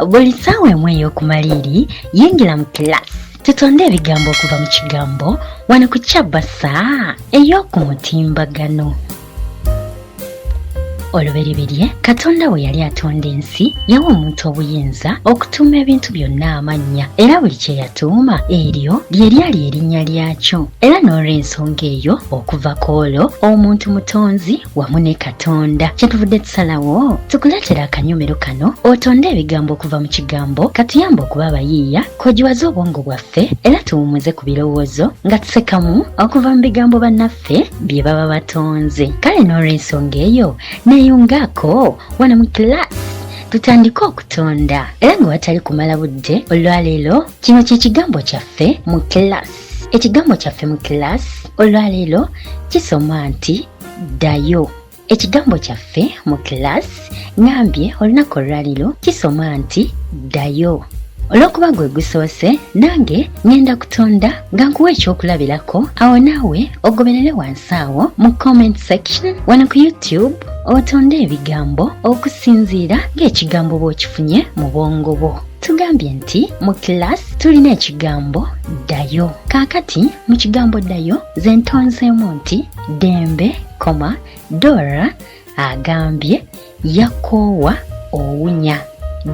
buli ssaawa emu ey'okumaliiri yingira mu kilasi tutonde ebigambo okuva mu kigambo wano ku kyabasa ey'oku mutimbagano olubereberye katonda bwe yali atonda ensi yawa omuntu obuyinza okutuuma ebintu byonna amannya era buli kye yatuuma eryo lye lyali erinnya lyakyo era n'olw'ensonga eyo okuva ku olwo omuntu mutonzi wamu ne katonda kyetuvudde tusalawo tukuleetera akanyomero kano otonde ebigambo okuva mu kigambo katuyamba okuba abayiiya kogiwaze obwongo bwaffe era tuwumuze ku birowoozo nga tusekamu okuva mu bigambo bannaffe byaffe bye baba batonze kale n'olwensonga eyo neeyungaako wano mu kilaasi tutandike okutonda era nga watali kumala budde olwaleero kino kye kigambo kyaffe mu kilaasi ekigambo kyaffe mu kilaasi olwaleero kisoma nti ddayo Ekigambo kyaffe mu kilaasi ngambye olunaku olwaliro kisoma nti ddayo. Olw'okuba gwe gusoose nange ngenda kutonda nga nkuwa ekyokulabirako awo naawe ogoberere wansi awo mu comment section wano ku YouTube otonde ebigambo okusinziira ng'ekigambo bw'okifunye mu bwongo bwo. tugambye nti mu kilaasi tulina ekigambo ddayo kaakati mu kigambo ddayo ze ntonzeemu nti Dembe, koma, Dora agambye yakoowa owunya.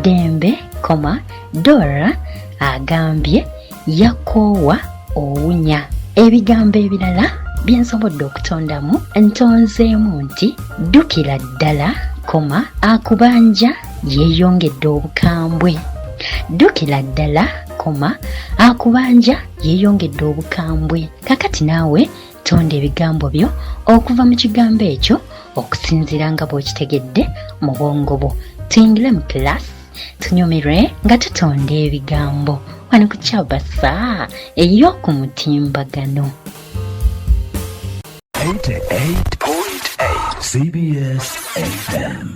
Dembe, koma, Dora agambye yakoowa owunya. Ebigambo ebirala bye nsobodde okutondamu ntonzeemu nti ddukira ddala koma akubanja yeeyongedde obukambwe ddukira ddala koma akubanja yeeyongedde obukambwe kakati naawe tonda ebigambo byo okuva mu kigambo ekyo okusinziira nga bw'okitegedde mu bwongo bwo tuyingire mu kilasi tunyumirwe nga tutonda ebigambo wano ku kyabasa ey'oku mutimbagano cbs fm